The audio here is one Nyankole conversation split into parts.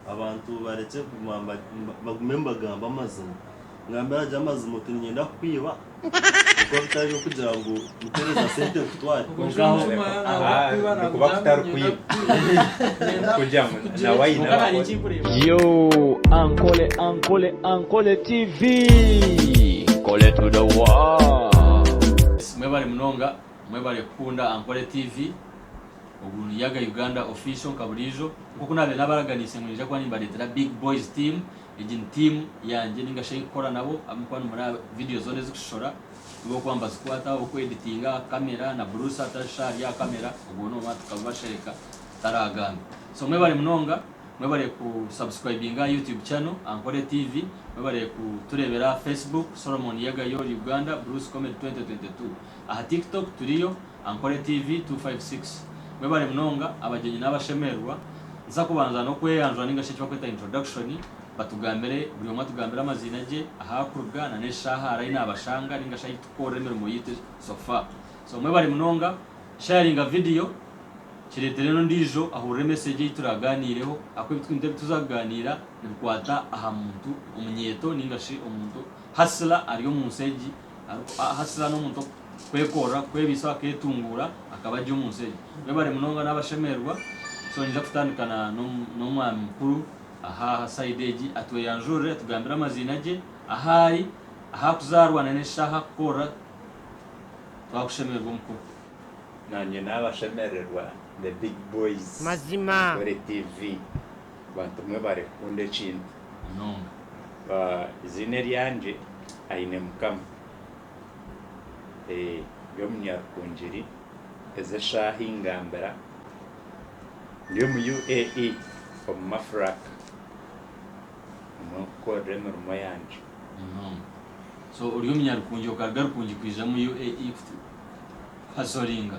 Abantu barekye kuguma bagume nibagambe amazima ngambira gye amazima oti ninyenda kukwiba ahakuba bitari byokugira ngu mutereza sente nkutware kwonka aho nikuba kutari kwiba kugira ngu nawe aine Yo Ankole Ankole Ankole TV Nkole to the world. Mwebale munonga mwebale kukunda Ankole TV. Ogu ni Yaga Uganda Official nka buriijo. Nk'oku naabaire naabaraganiise ngu ninyija kuba nimbareetera Big Boys Team. Egi ni tiimu yangye ninga shi ei nkukora nabo ahabw'okuba nimuri aha vidiyo zoona ezikushishora nibo barikuba nibazikwataho, okweditinga, aha kamera na Bruce atari shi ari aha kamera ogwo ni omwe tukabibashereka taraagamba. So mwebare munonga, mwebare ku subscribinga aha YouTube channel Ankore TV, mwebare kutureebera aha Facebook, Solomon Yaga Your Uganda, Bruce Comedy 2022. Aha Tiktok turiyo, Ankole TV 256 Mwebare munonga abagyenyi n'abashemererwa, nza kubanza n'okweyanjura ningashi eki bakweta introduction, batugambire buri omwe atugambire amaziina gye, ahu arikuruga na n'eshaaha ari ahi nabashanga ningashi ahi tukukorera emirimo yaitu so far. So mwebare munonga, sharinga video, kiretere n'ondijo ahurire message eyi turaganiireho ahakuba ebi twine ebi tuza kuganiira nibikwata aha muntu omunyeeto ningashi omuntu hustler ari omu nsi egi Arikuhasiza n'omuntu okwekorera, kwebisaho aketunguura akaba ari omu nsi egi. Mwebare munonga n'abashemererwa so niija kutandika na n'omwami mukuru aha aha side egi atweyanjurire atugambire amaziina gye, ahaari, ahakuzaarwa na n'eshaaha ahakukorera twakushemererwa omukuru. Nanye nabashemererwa the big boys Mazima. Ankore TV. Bantu mwe bari kukunda ekintu munonga. Eiziina eryangye aine mukama. Ndi omunyarukungiri ezi eshaaha ingambira ndi omu UAE omu mafuraka nimwo nkukorera emirimo yangye. Munonga. So ori omunyarukungi okaruga rukungi kwija omu UAE kuhasoringa?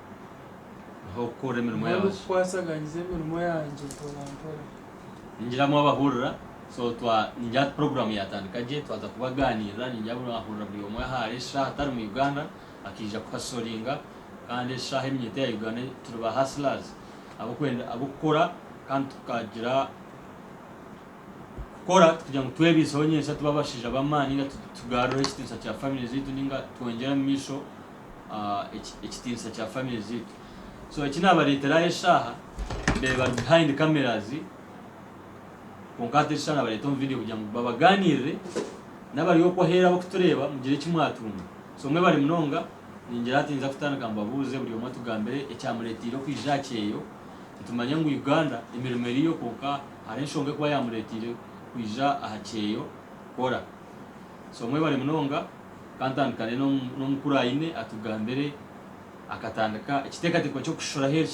Mpa okukora emirimo Mpa yangye. n'okukwasaganyiza emirimo yangye mporampora. Ningiramu abahurira, so twa ningira ati program yatandika gye twaza kubaganirira ningira buri ahurira buri omwe ahari eshaaha atari mu Uganda akaija ku hustlinga kandi eshaaha eminyeto ya Uganda turi ba hustlers abokwenda abokukora kandi tukagira kukora kugira ngu twebiiseho nyentsya tube abashaija b'amaani ninga tugarureho ekitiinisa kya family zaitu ninga twongyere omu maisho ekitiinisa kya family zaitu so eki nabaretera aha eshaaha ndeeba zi behind cameras kwonka hati eshaaha nabareta omu video kugira ngu babaganirire nabari okwo aheeru abakutureeba mugire eki mwatunga so mwebare munonga ningira hati ninza kutandika mbabuuze buri omwe atugambire ekyamureteire okwija aha kyeyo nitumanya ngu Uganda emirimo eriyo kwonka hariho enshonga ekuba yamureteire kwija aha kyeyo kukora so mwebare munonga. Kantandikane n'omukuru Aine atugambire akatandika ekiteekateeko ky'okushishura ahu eri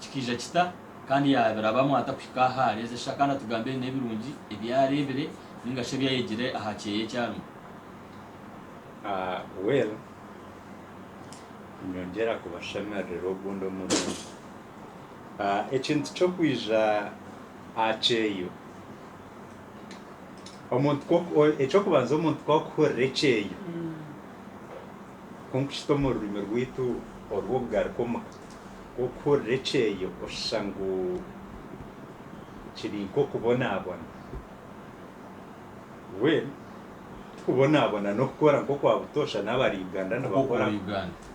kikaija kita kandi yaabirabamu ata kuhika ahu ari ezi eshaaha kandi atugambire n'ebirungi ebi areebire nainga shi ebi ayegire aha kyeeya eki arimu. Well nyongyera kubashemererera ogundi omurundi. Ekintu ky'okwija aha kyeeyo. Eky'okubanza omuntu ku arikuhurira ekyeyo, kunkukita omu rurimi rwaitu orw'okugaruka omuka, ku orikuhurira ekyeyo oshusha ngu kiri nk'okubonabona. Mbwenu tikubonabona n'okukora nk'okwa butoosha n'abari Uganda nibakora.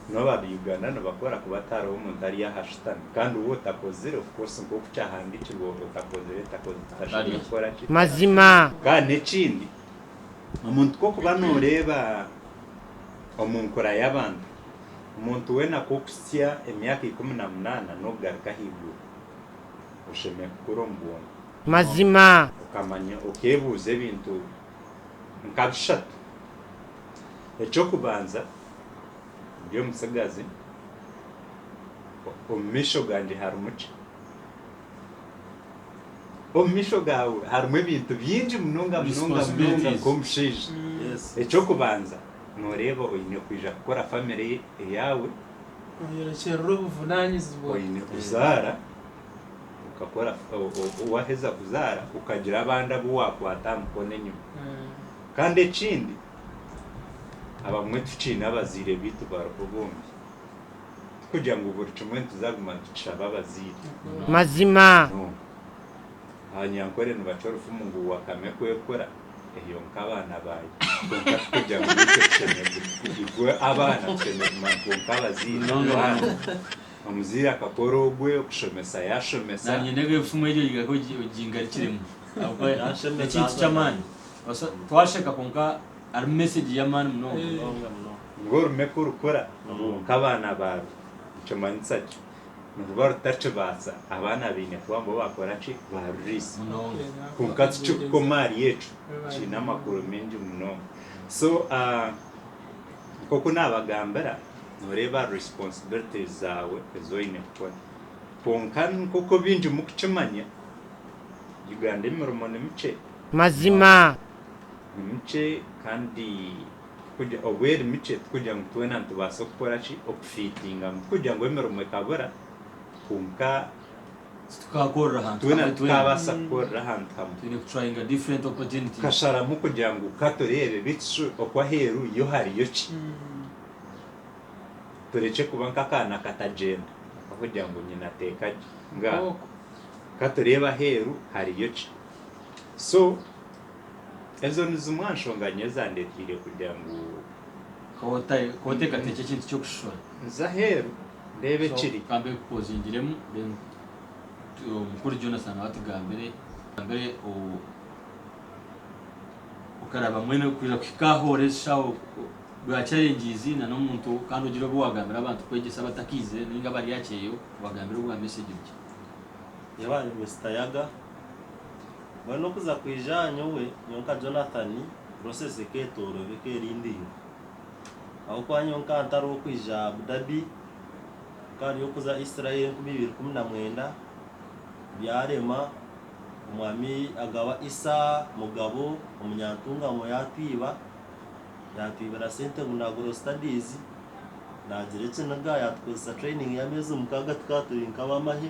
Nooba aba Uganda nibakora kuba hatariho muntu ari aha shutami kandi ou otakozire of course nk'oku kyahandikirwe otakozire tashemereire kukora ki? Mazima. Kandi n'ekindi omuntu ku okuba nooreeba omu nkura y'abantu, omuntu weena ku okuhitsya emyaka ikumi na munaana n'okugaruka ahaiguru oshemereire kukura omu bwongo. Mazima. Okamanya okeebuuza ebintu nka bishatu. Eky'okubanza. ndi omutsigazi, omu maisho gangye harimu ki? Omu maisho gaawe harimu ebintu bingi munonga munonga munonga nk'omushaija. Yes. Eky'okubanza nooreeba oine kwija kukora famire yaawe, Oyerekyerera obuvunanyizibwa. oine kuzaara, okakora o- o- waaheza kuzaara okagira abandi abu waakwata aha mukono enyima. Mm. Kandi ekindi Abamwe tukiine abazaire baitu bariho bombi. Tikugira ngu buri kimwe nituza kuguma nitukishaba abazaire. Mazima. No. Abanyankore nibaca orufumu ngu wakame kwekura, eyo nk'abaana baayo. Kwonka tikugira ngu naitwe tushemereire. Igwe abaana tushemereire kumanya ngu kwonka abazaire baana. Omuzaire akakora ogwe, okushomesa yashomesa. Nanye ndebe efumu eryo ogigarukiremu ahabw'okuba n'ekintu ky'amaani. Nobaasa twasheka kwonka harimu message yamaani munonga. Ngu orume kurukura nk'abaana baaru nikimanyisa ki? Niruba rutakibaasa abaana baine kuba nibo bakora ki? Baruriisa. Kwonka tikirikukoma ahari ekyo, kiine amakuru maingi munonga. So nk'oku naabagambira noreeba responsibilities zaawe ezi oine kukora. Kwonka nk'oku baingi murikukimanya Uganda emirimo nimikye. Mazima. Ni mukye kandi tikugira, obu eri mikye tikugira ngu twena nitubaasa kukora ki? Okufiitingamu. Tikugira ngu emirimo ekabura kwonka. Titukaakorera ahantu hamwe twena. Twena tukabaasa kukorera ahantu hamwe. Twine ku tryinga different opportunities. Tukasharamu kugira ngu ka tureebe beitu shwe oku aheeru yo hariyo ki? Turekye kuba nk'akaana akatagyenda kakugira ngu nyina ateeka gye. Nga, ka tureebe aheeru hariyo ki? So ezo nizimwe aha nshonga nyowe ezandeteire kugira ngu. Ka oteekateekye ekintu ky'okushishura. Nze aheeru ndeebe ekiri. Ka mbe nkukuzingiremu then Mukuru Jonathan nawe atugambire. Atugambire okaraba mwene kwija kuhika aha ora ezi shaho bwa challenges na n'omuntu kandi ogire obu waagambira abantu kwegyesa abatakaizire nainga abari aha kyeyo, obagambire obwa message bukye. Yaaba ari Mister Yaga. Mbwenu okuza kwija aha nyowe, nyowe nka Jonathan, process eketooroorwa ekerindirwe. Ahabw'okuba nyowe nkaba ntari ow'okwija Abu Dhabi, nkaba ndi ow'okuza Israel enkumi ibiri ikumi na mwenda, byarema, Omwami agaba Isa Mugabo Omunyantungamo yaatwiba, yaatwibira sente ngu naagura studies, naagira ekiniga yaatukozesa training y'ameezi mukaaga tukaba turi nk'abamahe.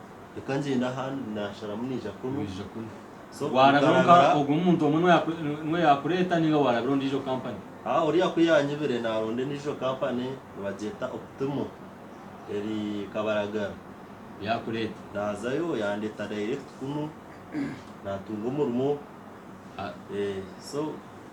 Reka ngyende aha naasharamu naija kunu. Waarabira onka ogwo muntu omwe niwe yaakureeta nainga waarabira ondiijo kampani? Haa, oriya ku yaanyibire naaronda endiijo kampani, nibagyeta Optimo eri Kabaragara. Yaakureeta? Naazayo yaandeeta direct kunu, naatunga omurimo. So.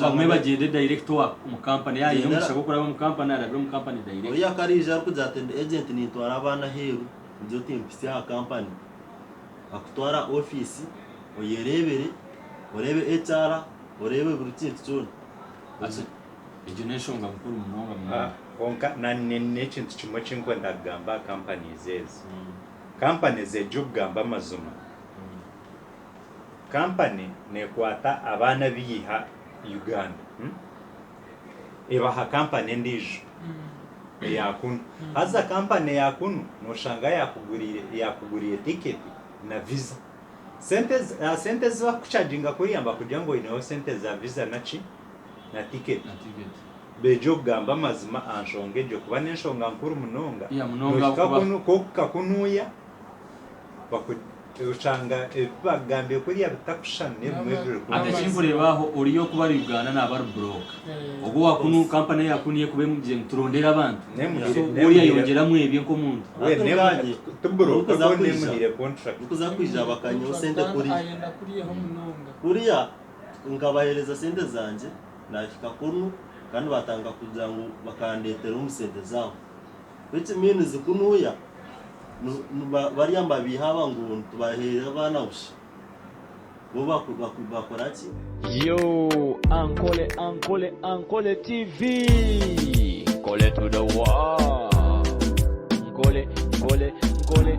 bagume bagyende direct owa omu company yaaba aine omugisha gw'okuraba omu company arabire omu company direct. Oriya ku arija arikugira ati ndi agent nintwara abaana aheeru ngira oti mpitsya aha company akutware aha office oyereebere oreebe HR oreebe buri kintu kyona. Ati egyo n'enshonga nkuru munonga munonga. Kwonka na ni n'ekintu kimwe eki ndikwenda kugamba aha companies ezi. Companies egyo kugamba amazima Kampani nekwata abaana abeiha Uganda ebaha kampani endiijo eya kunu haza kampani eya kunu noshanga yakuguriire tiketi na viza. Sente ezi bakukucaginga kuriya nibakugira ngu oyineho sente za viza naki na tiketi. Begye okugamba amazima aha nshonga egyo kuba n'enshonga nkuru munonga nohika kunu kwonka kunuya. Oshanga ebi bakugambire kuriya bitakushushana n'ebimwe ebi biri kunu. Ati ekinkureeba aho oriya okuba ari Uganda naaba ari broke. Obwo owa kunu company eya kunu ekuba emugire ngu turondere abantu, so bwo oriya ayongyeramu ebye nk'omuntu. Hati orikanye, orikuza kwija, orikuza kwija bakanyeho sente kuriya. Kuriya nkabahereza sente zangye, nahika kunu kandi batandika kugira ngu bakandeetera omu sente zaabo. which means ku nuuya barya nibabeiha aba ngu nitubaheera abaana busha bo bakora ki? Yooh Ankole Ankole Ankole TV Nkole to the world Nkole Nkole Nkole.